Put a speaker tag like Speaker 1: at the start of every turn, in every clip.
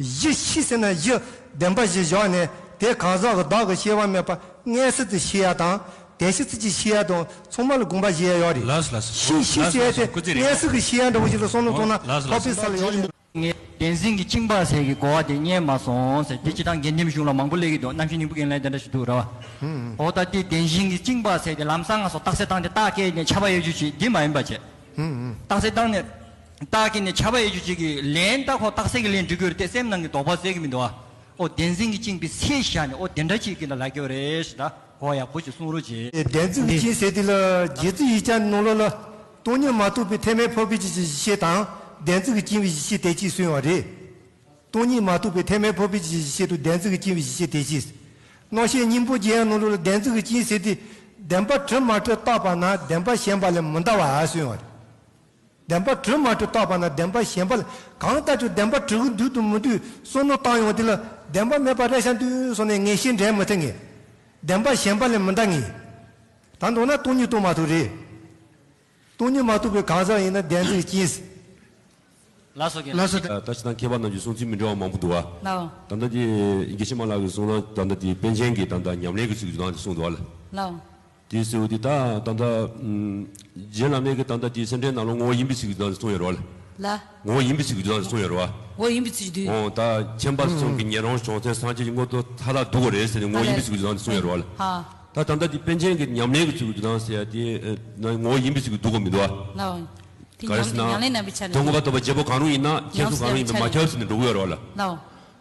Speaker 1: གཞི་ཤི་ཟིན་ན་གཞི་བདེན་པ་བཞི་བཞག་ནས་དེ་གང་ཟག་གི་བདག་གི་ཤེས་པ་མེད་པ་ལྔའི་སྲིད་དུ་ཤི་ཡ་དང་དེ་ཤི་ཚུལ་གྱི་ཤི་ཡ་དང་མཚུངས་མ་ལ་དགོངས་པ་བཞེས་ཡ་ཡོད་རེད། གཞི་ཤི་ཟེར་ཡ་དེ་ལྔའི་སྲིད་ཀྱི་ཤི་ཡ་འདྲ་བོ་ཞིག་ལ་སོང་ནས་མཐོང་ན་ཕག་པའི་ས་ལ་ཡོང་ནས། ངས་བདེན་འཛིན་གྱི་
Speaker 2: གཅིག་འབའ་ཟེར་གྱི་གོ་བ་དེ་རྙེད་མ་སོང་ཟེར་དེ་སྤྱི་དང་དགེ་འདུན་གཞུང་ལ་མང་པོ་གླེགས་ཀྱི་འདུག་རྣམ་ཤེས་སྙིང་པོ་ཀྱི་ལན་དེ་འདྲ་ཞིག་འདུག་ར་བ། ཨོ་ད་དེ་བདེན་འཛིན་གྱི་གཅིག་འབའ་ཟེར་དེ་ལམ་སང་ང་སོགས་རྟགས་གསལ་བཏང་སྟེ་རྟགས་བཀལ་ནས་ཆ་པ་གཡོ་སྒྱུ་བྱེད་འདི་མ་ཡིན་པ་བྱས། རྟགས་གསལ་བཏང་ནས། རྟགས་ཀྱིས་ནི་བྱ་བ་ཡེ་གྱུར་ཅིག། ལན། རྟགས་ཁོག་རྟགས་གསལ་གྱི་ལན་འབྲི་དགོས་རེད་དེ་སེམས་ནང་གི་དོགས་པ་སེལ་གི་མི་འདུག་ཨ། ཨོ་བདེན་འཛིན་གྱིས་བཅིངས་པའི་ཚེ་བཞག་ནས་ཨོ་དེ་འདྲ་ཅིག་གི་ལ་ལ་རྒྱོ་རེ་ཞེས་དྲ་གོ་ཡག་པོ་ཞིག་གསུང་རོགས་གྱིས། བདེན་འཛིན་གྱིས་བཅིངས་ཟེར་
Speaker 1: དུས་ལ་རྗེ་བཙུན་ཡིག་བྱང་ནང་ལོགས་ལ། སྟོང་ཉིད་མ་རྟོགས་པའི་ཐེག་དམན་འཕོ་འགྱུར་གྱི་གཞི་ཤེས་དང་བདེན་འཛིན་གྱིས་བཅིངས་བའི་གཞི་ཤེས་དེ་གཅིག་གསུངས་ཡོད་རེད། སྟོང་ཉིད་མ་རྟོགས་པའི་ཐེག་དམན་འཕོ་འཕེལ་གྱི་གཞི་ཤེས་དང་བདེན་འཛིན་གྱིས་བཅིངས་བའི་གཞི་ཤེས་དེ་གཅིག། རྣོ་ཤེས་སྙིང་པོ་རྗེ་ཡང་ནང་ལོགས་ལ་བདེན་འཛིན་གྱིས་བཅིངས་ཟེར་དུས། བདེན་པ་དྲི་མ་དྲི་རྟགས་པ་ན་བདེན་པ་ཞེན་པ་ལས་མི་འདའ་བ་གསུངས་ཡོད་རེད། བདེན་པ་དྲི་མ་དྲི་བཏགས་པ་ན་བདེན་པ་ཞེན་པ་ལ་གང་ལྟ་ཅི་བདེན་པ་དྲི་གུ་འདུལ་དུ་མི་འདུལ་གསུང་ནོ་བཏང་ཡོང་དེ་ལ་བདེན་པ་མེད་པར་རེ་ཤ་འདུལ་སོང་ནས་ངེས་ཤེས་འདྲེན་མི་ཐུབ་ངེས། བདེན་པ་ཞེན་པ་ལས་མི་འདའ་ངེས། ད་མདོར་ན་སྟོང་ཉིད་རྟོགས་མ་ཐུབ་རེད། སྟོང་ཉིད་མ་རྟོགས་པའི་གང་ཟག་ཡིན་ན་བདེན་ཚིག་གཅིན། ལ་སོགས་
Speaker 2: ཀྱི་ལ་སོགས་ཀྱི། ད་ཅི་དང་
Speaker 3: མཁས་པ་རྣམས་ཀྱི་གསུང་ཚིག་མི་འདྲ་བ་མང་པོ་འདུག་ཨ། ལ་འོང། ད་ལྟ་དེ་
Speaker 2: དགེ་
Speaker 3: བཤེས་མ་ལགས་ཀྱི་གསུང་ན་ད་ལྟ་དེ་པཎ་ཆེན་གྱི་ད་ལྟ་ཉམས་ལེན་གྱི་ཚིག་བརྗོད་སྟངས་དེ་གསུངས་འདུག་ཨ། ལ་འོང།
Speaker 2: དེའི་སྲས་བོ་དེ་ད་
Speaker 3: ད་ད། རྗེ་བླ་མེད་ཀྱི་ད་ད་དེའི་སེམས་ཁྲལ་ནང་ལོ་ངོ་བོ་ཡིན་པའི་ཚིག་གི་དུས་དང་གསུང་ཡོད་རོ། ལ། ངོ་བོ་
Speaker 2: ཡིན་པའི་ཚིག་གི་དུས་
Speaker 3: དང་གསུང་ཡོད་རོ། ངོ་བོ་ཡིན་པའི་ཚིག་གི་དུས།
Speaker 2: འོང་ད་མཁྱེན་པ་
Speaker 3: གསུམ་གྱི་ཉན་རང་བྱང་སེམས་སངས་རྒྱས་ཀྱི་དངོས་གཙོ་མཐའ་དག་འདུག་གོ་རེད་ཟེར་ནས་ངོ་བོ་ཡིན་པའི་ཚིག་གི་དུས་དང་གསུང་ཡོད་རོ། ཧ། ད་ད་ད་
Speaker 2: དེ་པན་ཆེན་
Speaker 3: གྱི་ཉམས་ལེན་གྱི་ཚིག་གི་དུས་དང་ཟེར་ཡ་དེ། ངོ་བོ་ཡིན་པའི་ཚིག་གི་དུས་གོ་མི་འདུག་
Speaker 2: ཨ། ལ། དེ་ཉམས་ལེན་
Speaker 3: རྣམ་པའི་ཆ་ནས། དོན་གོ་བ་ལྟ་བུ་བརྒྱད་པོ་གང་རུང་ཡིན་ན་མཁྱེན་གསུམ་གང་རུང་ཡིན་པས་མ་ཁྱབ་ཟེར་ནས་འགྲོ་གི་ཡོད་རོ། ལ།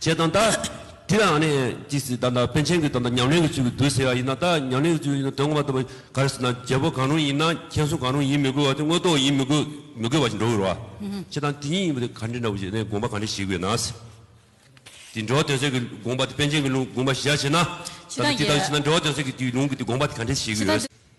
Speaker 3: བྱས་དང་ད། དེ་ལའང་ནི། ཅི་སྲིད་ད་ལྟ་པན་ཆེན་གྱི་ད་ལྟ་ཉམས་ལེན་གྱི་ཚུལ་གྱིས་བསྡུ་ཟེར་བ་ཡིན་ན་ད་ཉམས་ལེན་གྱི་ཚུལ་གྱིས་དོན་ངོ་མ་ལྟ་བུ་ག་རེ་ཟེར་ན་རྒྱལ་པོ་གང་རུང་ཡིན་ན་མཁྱེན་གསུང་གང་རུང་ཡིན་མི་དགོས་བ་དེ་དངོས་རྟོགས་ཡིན་མི་དགོས་མི་དགོས་བ་ཞིག་འགྲོ་དགོས་རོ། བྱས་དང་དེ་ཉིད་ཡིན་པ་དེ་ག་འདྲི་འདྲ་བོ་ཞིག་ནས་དགོངས་པ་ག་འདྲི་ཞིག་དགོས་ན། དེ་འགྲོ་བ་དོན་གསལ་གྱི་དགོངས་པ་དེ་པན་ཆེན་གྱི་ལུང་དགོངས་པ་བཞི་བྱས་ན། ད་ལྟ་དེ་ལྟ་བུ་བྱས་ན་འགྲོ་བ་དོན་གསལ་གྱི་དེའི་ལུང་གི་དེ་དགོངས་པ་དེ་ག་འདྲི་ཞིག་དགོས།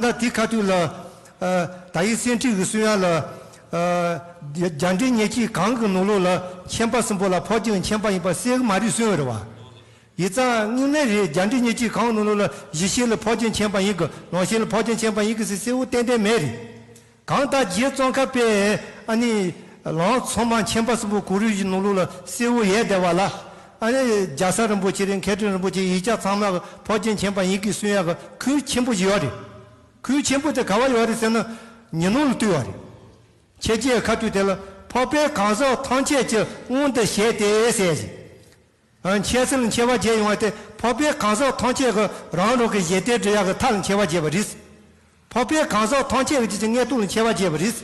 Speaker 1: ལ་དེའི་ཁ་ཐུག་ལ། ད་ཡིག་སེང་ཁྲི་འི་སུན་དབྱངས་ལ། རྒྱ་འདྲེ་ཉེ་ཁྱིས་གངས་ཀྱི་ནུ་ལོ་ལ། མཁྱེན་པ་གསུམ་པོ་ལ་ཕོག་ཅིང་མཁྱེན་པ་ཡིན་པ་གསལ་གི་མ་རིག་སུན་འི་ར་བ། ཡི་རྩ་སྔིང་ལེ་རེ་རྒྱ་འདྲེ་ཉེ་ཁྱིས་གངས་ནུ་ལོ་ལ་གཞི་ཤེས་ལ་ཕོག་ཅིང་མཁྱེན་པ་ཡིན་གི་ནོར་ཤེས་ལ་ཕོག་ཅིང་མཁྱེན་པ་ཡིན་གི་སི་སེའུ་ཏན་ཏན་མེ་རེ། གང་ལྟར་རྗེ་བཙོན་ཁ་པས་ཨ་ནི་ལང་ཚོ་མ་མཁྱེན་པ་གསུམ་པོ་གུ་རུ་ཡི་ནོར་ལུག་ལ་གསེར་བུ་ཡས་བརྡལ་བ་ལ། ཨ་ནི་རྒྱ་སར་རིན་པོ་ཆེ་རིན་མཁས་དྲུང་རིན་པོ་ཆེ་ཡིག་ཆ་ཚང་མ་གི་ཕོ་སྐྱེས་མཁྱེན་པ་ཡིན་གི་གསུན་ཡག་གི་ཁུལ་ཆེན་པོ་ཞིག་ཡོད་རེད། ཁུལ་ཆེན་པོ་དེ་ག་བ་ཡོད་རེད་ཟེར་ན་ཉི་ནུབ་ལ་བཏུས་བ་རེད། ཁྱེད་རྗེའི་ཁ་ཐུག་དེ་ལ་ཕོ་དཔལ་གང་ཟག་ཐམས་ཅད་ཀྱི་དབང་དུ་བྱས་ཏེ་ཟེར་ཞིང། འཆད་ཚུལ་མཆེ་བ་བརྒྱད་ཡོང་བ་དེ་ཕོ་པའི་གང་ཟག་ཐམས་ཅད་ཀྱི་རང་རང་གི་གཞལ་བརྟའི་འབྲེལ་ཡག་གི་མཐའ་ལ་མཆེ་བ་བརྒྱད་པ་རིས། ཕོ་པའི་གང་ཟག་ཐམས་ཅད་ཀྱི་རྗེས་ཀྱི་མངལ་དུག་ལ་མཆེ་བ་བརྒྱད་པ་རིས།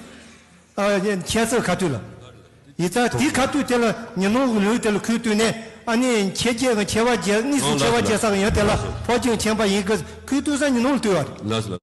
Speaker 1: འཆད་ཚུལ་ཁ་བཏུས་ལ། ཡི་དྭགས་དེའི་ཁ་བཏུས་དེ་ལ་ཉོན་མོངས་ཀྱི་ལུས་དེ་ལ་ཁུར་བཏུས་ནས་ཨ་ནི་མཆེ་བརྒྱད་ཀྱི་མཆེ་བ་བརྒྱད་གཉིས་སུ་མཆེ་བ་བརྒྱད་ཟག་ཡོད་དེ་ལ་ཕོ་བཅུ་མཁྱེན་
Speaker 3: པ་
Speaker 1: ཡིན་གྱི་ཁུར་བཏུས་ས་ཉོན་མོངས་ལ་བཏུས་བ་རེད།